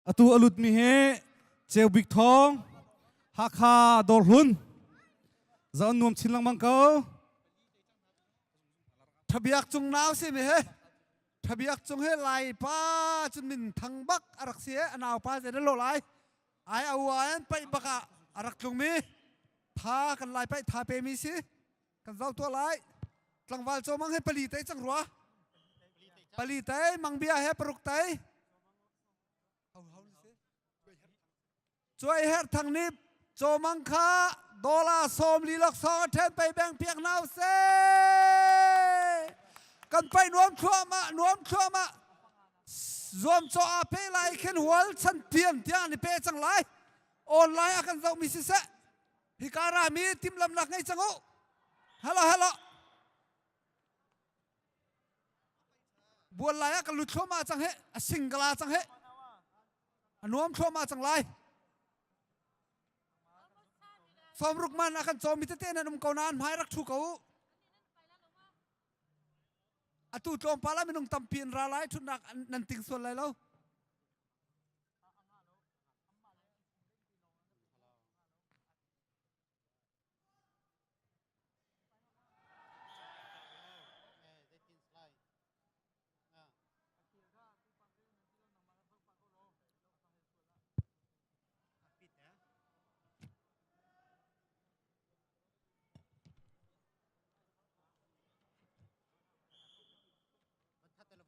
Atu a lutmi hi Ceu Bik Thawng Hakha Dawrhlun za an nuam chin lengmang ko. Thabiak cung nau si mi he thabiak cung he lai pa cun min thang bak a rak si a nau pa ze na lo lai ai a ua an pai bak ah a rak tlung mi tha kan lai pai tha pe mi si kan zau tua lai tlangval cho mang he pali tai chang rua pali tai mang bia he paruk tai Cuai herh thang nip cawmang kha dollar sawm lilok sawng a ṭhen pei beng piak na se kan pai nuam thluahmah nuam thluahmah zuam caw a pe lai khin hual chan tiam tiang ni pe cang lai online a kan zoh mi si se hi kara mi tim lam nak ngei chang u hello hello bual lai ah ka lut thluahmah cang he a sing ka la cang he a nuam thluahmah cang lai sawm ruk man a kan cawm mi tete nan um ko na an hmai rak thu ko atu tlawmpal ah minung tampi in ra lai thutnak nan ting sual lai lo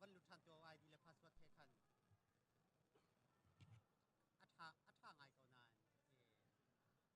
van lu ṭhan ṭuo ai di le password he khan a ṭha a ṭha ngai ko nain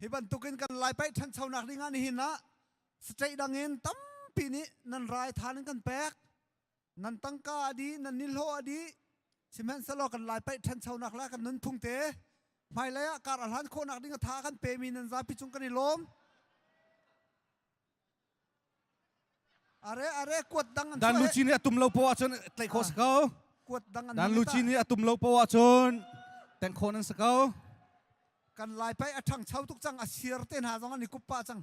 Hi bantukin kan lai paih ṭhanchonak ding ah nihin ah saṭeih dang in tampi nih nan rai than in kan pek nan tangka adi nan nilhaw adi sihmanhsehlaw kan lai paih ṭhanchonak la kan nunphung te hmailei ah kar a hlan khawhnak ding a tha kan pemi nan zapi cung kan i lawm Dan Lucci nih a tum lo poah ahcun tlaih khawh si ko. Dan Lucci nih a tum lo poah ahcun tengh khawh nan si ko. Kan lai pai a ṭhang chau tuk cang a sir te hna zong an i kuppa cang.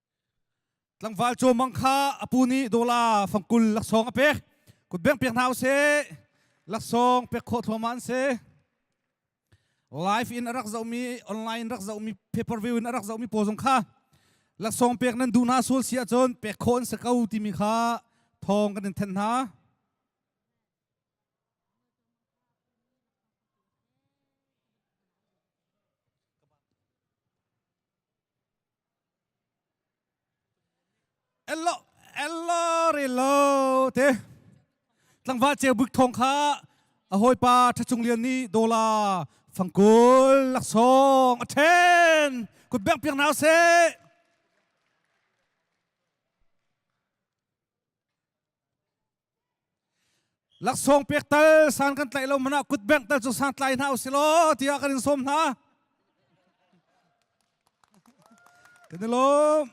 tlangval caw mang kha apu nih dola fangkul laksawng a pek kut beng pek hna u se laksawng pek khawh thluama an se live in a rak zohmi online rak zohmi paper view in a rak zohmi paw zong kha laksawng pek nan duh hna sual si ahcun pek khawh an si ko timi kha thawng kan in then hna Elo elo re lo te tlangva ceu buk thong kha a hawipa ṭhachung lian nih dola fangkul laksawng a ṭhen kut bengh piak na seh laksawng pek tal san kan tlaih lo mana kut bank tal cu san tlai hna usih law tiah kan in sawm hna kan i lawm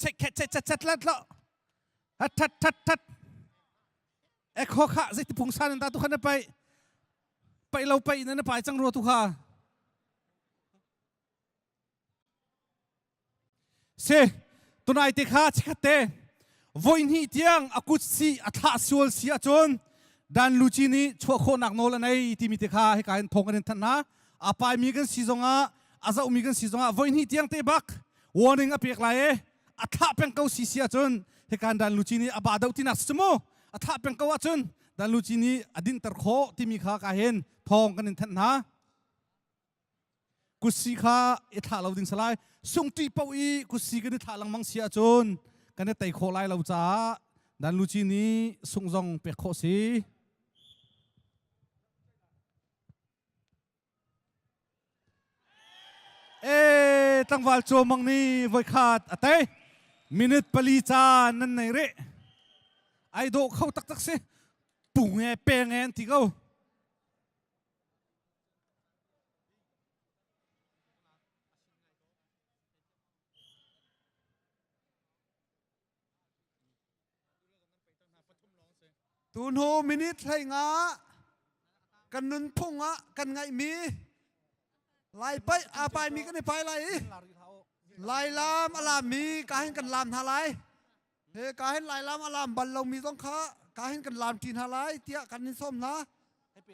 chet chet chet chet let lo hat that that that ek ho kha zeiti phung san in ta tu khan pai pai lo pai in na pai chang ro tu kha Si tunai te kha chekhate voihnih tiang a kut si a thlah sual si ahcun dan luci nih chuah khawhnak nawl an ei timi te kha hika hin thawng kan in thanh hna a pai mi kan si zongah a zoh mi kan si zongah voihnih tiang te bak warning a pek lai e a thlah peng ko si si ahcun hikan dan luci nih a ba do tinak si mu a thlah peng ko ahcun dan luci nih a dinter khawh timi kha ka hin thawng kan in thanh hna Kusi kha i thlah lo ding salai sungṭi poh i kusi kan i thlah lengmang si ahcun kan i tei khawh lai lo caah dan luci nih sung zong pek khawh si. E tlangval caw mang nih voi khat a tei minute pali caan nan nei re ai dawh kho taktak si punge penge an ti ko Tunu minute hlei nga kan nunphung ah kan ngaihmi lai pai a pai mi kan i pai lai i lai lam a lam mi ka hin kan lam hna lai ka hin lai lam a lam bal lomi zong kha ka hin kan lam ṭi hna lai tiah kan in sawm hna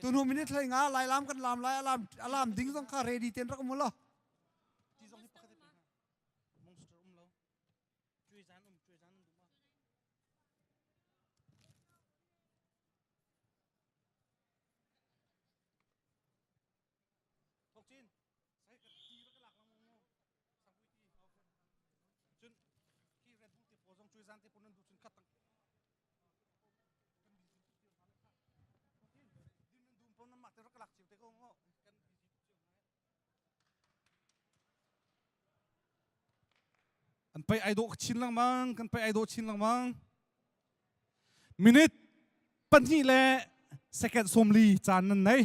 tunu minute hlei nga lai lam kan lam lai alam alam ding zong kha ready ten rak mu lo Thokcin, sai ka ti ra ka lak lang mu. Sangpui ti. Cun ki red bull te po zong cui zan te po nan du cun khat tang. Kan bi jin ti ma le kha. Thokcin, din nan dum po nan ma te ra ka lak chiu te ko ngo. Kan bi jin chiu na. Kan pei ai dawh chin lengmang, kan pei ai dawh chin lengmang. Minute pahnih le second sawmli caan nan nei.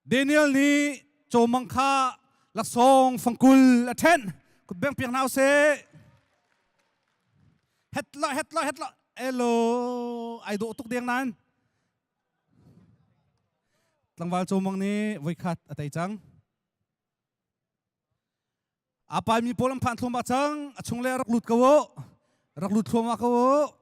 Daniel nih cawmang kha laksawng fangkul a ṭhenh. Kut beng piak hna usih. Hetla, hetla, hetla. Elo, ai dawh tuk deng nan. Tlangval cawmang nih voikhat a tei cang. A pai mi pawl an phan thluam ah cang. A chung le rak lut ko u. Rak lut thluam ah ko u.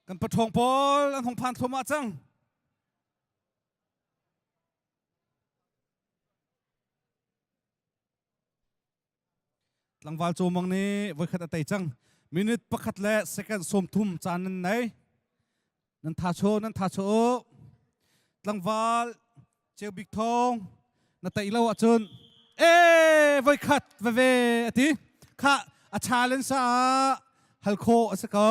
Kan paṭhawng pawl an hung phan thluahmah cang. Tlangval cawmang nih voikhat a tei cang. Minute pakhat le second sawmthum caan nan nei. Nan tha chaw, nan tha chaw. Tlangval ceu bik thong na tei lo ahcun e voikhat veve a ti. Kha a challenge ah hal khawh a si ko.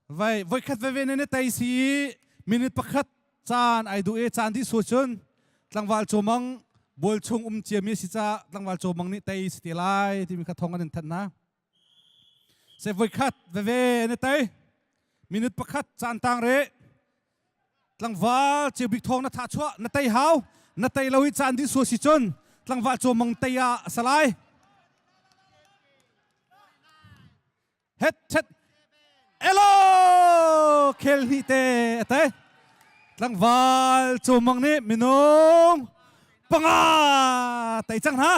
Vai voikhat veve nan i tei si i minute pakhat caan ai duh e caan dih sual cun tlangval cawmang bual chung um ciami si ca tlangval cawmang nih tei si te lai timi kha thong an in thanh hna. Se voikhat veve nan i tei minute pakhat caan tang re tlangval ceu bik thong na tha chuah na tei hau na tei lo hi caan dih sual si cun tlangval cawmang tei ah a salai. het thet elo khel hli te ate tlangval chomang nih minung panga tai chang na